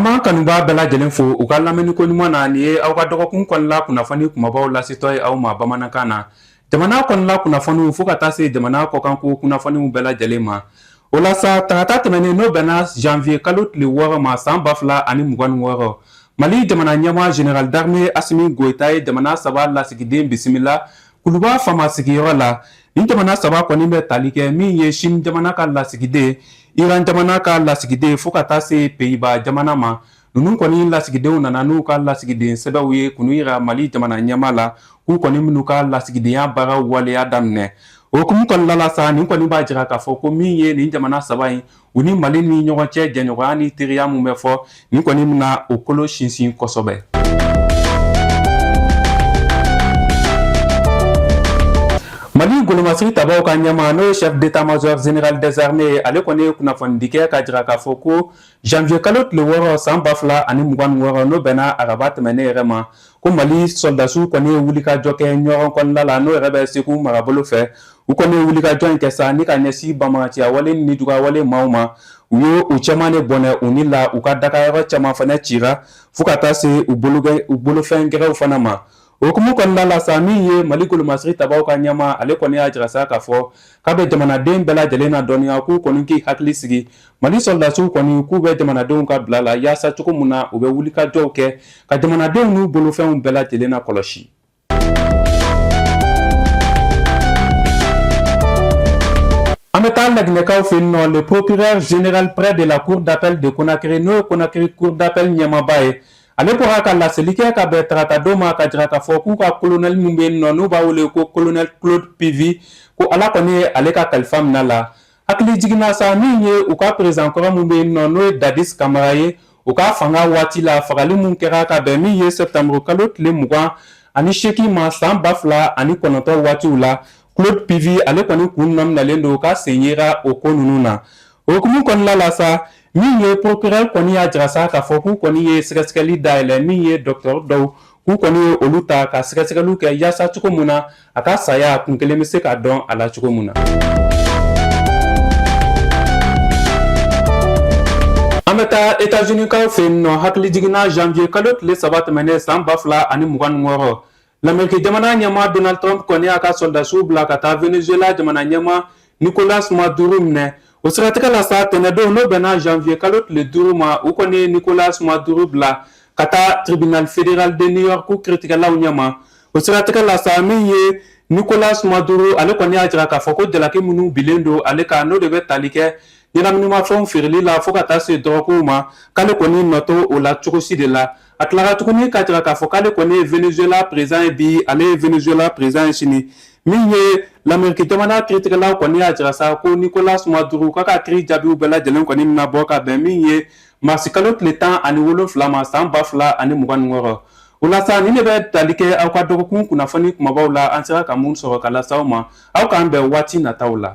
b'an kanubaa bɛɛ lajɛlen fo u ka lamɛnniko ɲuman na nin ye aw ka dɔgɔkun kɔnɔla kunnafoni kumabaw lasetɔ ye aw ma bamanankan na jamana kɔnɔla kunnafoniw fo ka taa se jamana kɔkanko kunnafoniw bɛɛ lajɛlen ma O la sa tarata tɛmɛnen n'o bɛnna janvier kalo tile wɔɔrɔ ma san ba fila ani mugan ni wɔɔrɔ mali jamana ɲɛmaa général d'armée Assimi Goïta ye jamana saba lasigiden bisimila kuluba faama sigiyɔrɔ la ni jamana saba kɔni bɛ tali kɛ min ye Chine jamana ka lasigiden iran jamana ka lasigiden fo ka taa se Pays-Bas jamana ma ninnu kɔni lasigidenw nana n'u ka lasigiden sɛbɛnw ye k'olu yira mali jamana ɲɛmaa la k'u kɔni bɛn'u ka lasigidenya baara waleya daminɛ o hukumu kɔnɔna la sa nin kɔni b'a jira k'a fɔ ko min ye nin jamana saba in u ni mali ni ɲɔgɔn cɛ jɛɲɔgɔnya ni teriya min bɛ fɔ nin kɔni bɛna o kolo sinsin kosɛbɛ mali golomasiri tabaw ka ɲɛmaa n'o ye chef d'état major général des armées ye ale kɔni ye kunnafonidi kɛ k'a jira k'a fɔ ko Janvier kalo tile wɔɔrɔ san ba fila ani mugan ni wɔɔrɔ n'o bɛnna araba tɛmɛnen yɛrɛ ma ko mali sɔrɔdasiw kɔni ye wulikajɔ kɛ ɲɔnɔn kɔnɔna la n'o yɛrɛ bɛ segu marabolo fɛ u kɔni ye wulikajɔ in kɛ sa ni ka ɲɛsin banbaganciya wale nijuguya wale maaw ma u ye u caman de bɔnɛ u ni la u ka dagayɔrɔ caman fana cira fo ka taa se u bolofɛn gɛrɛw fana ma O hukumu kɔnɔna la sa min ye mali golomasiri tabaw ka ɲɛmaa ale kɔni y'a jira sa k'a fɔ k'a bɛ jamanaden bɛɛ lajɛlen ladɔnniya k'u kɔni k'i hakili sigi mali sɔrɔdasiw kɔni k'u bɛ jamanadenw ka bila la yaasa cogo min na u bɛ wulikajɔw kɛ ka jamanadenw n'u bolofɛnw bɛɛ lajɛlen lakɔlɔsi An bɛ taa laginɛkaw fɛ yen nɔ le procureur général près de la cour d'appel de Conakry n'o ye Conakry cour d'appel ɲɛmaaba ye ale bɔra ka laseli kɛ ka bɛn tarata don ma k'a jira k'a fɔ k'u ka kolonɛli min bɛ yen nɔ n'u b'a wele ko kolonɛli claude pivi ko ala kɔni ye ale ka kalifa min'a la hakilijiginna sa min ye u ka peresidan kɔrɔ min bɛ yen nɔ n'o ye dadis kamara ye u ka fanga waati la fagali min kɛra ka bɛn min ye sɛptanburu kalo tile mugan ani seegin ma san ba fila ani kɔnɔntɔn waatiw la claude pivi ale kɔni kun nɔminɛlen don k'a sen yera o ko ninnu na O hukumu kɔnɔna la sa min ye procureur kɔni y'a jira sa k'a fɔ k'u kɔni ye sɛgɛsɛgɛli dayɛlɛ min ye docteur dɔw k'u kɔni ye olu ta ka sɛgɛsɛgɛliw kɛ yaasa cogo min na a ka saya kun kelen bɛ se ka dɔn a la cogo min na. an bɛ taa Etats-Unis kaw fɛ yen nɔ hakilijiginna janvier kalo tile saba tɛmɛnen san ba fila ani mugan ni wɔɔrɔ Lameriki jamana ɲɛmaa Donald Trump kɔni y'a ka sɔrɔdasiw bila ka taa Venezuela jamana ɲɛmaa Nicolas Maduro minɛ o siratigɛ la sa tɛnɛndon n'o bɛnna janvier kalo tile duuru ma u kɔni ye Nicolas Maduro bila ka taa tribunal fédéral de New York kiritigɛlaw ɲɛma o siratigɛ la sa min ye Nicolas Maduro ale kɔni y'a jira k'a fɔ ko jalaki minnu bilen don ale kan n'o de bɛ tali kɛ ɲɛnaminimafɛnw feereli la fo ka taa se dɔrɔgukow ma k'ale kɔni nɔ t'o la cogosi de la A tilara tuguni k'a jira k'a fɔ k'ale kɔni ye Venezuela président ye bi, ale ye Venezuela président ye sini, min ye Lameriki jamana kiritigɛla kɔni y'a jira sa ko Nicolas Maduro k'a ka kiri jaabiw bɛɛ lajɛlen kɔni bɛna bɔ ka bɛn min ye marisi kalo tile tan ani wolonfila ma san ba fila ani mugan ni wɔɔrɔ. O la sa, nin de bɛ tali kɛ aw ka dɔgɔkun kunnafoni kunbabaw la, an sera ka mun sɔrɔ ka lase aw ma. aw k'an bɛn waati nataw la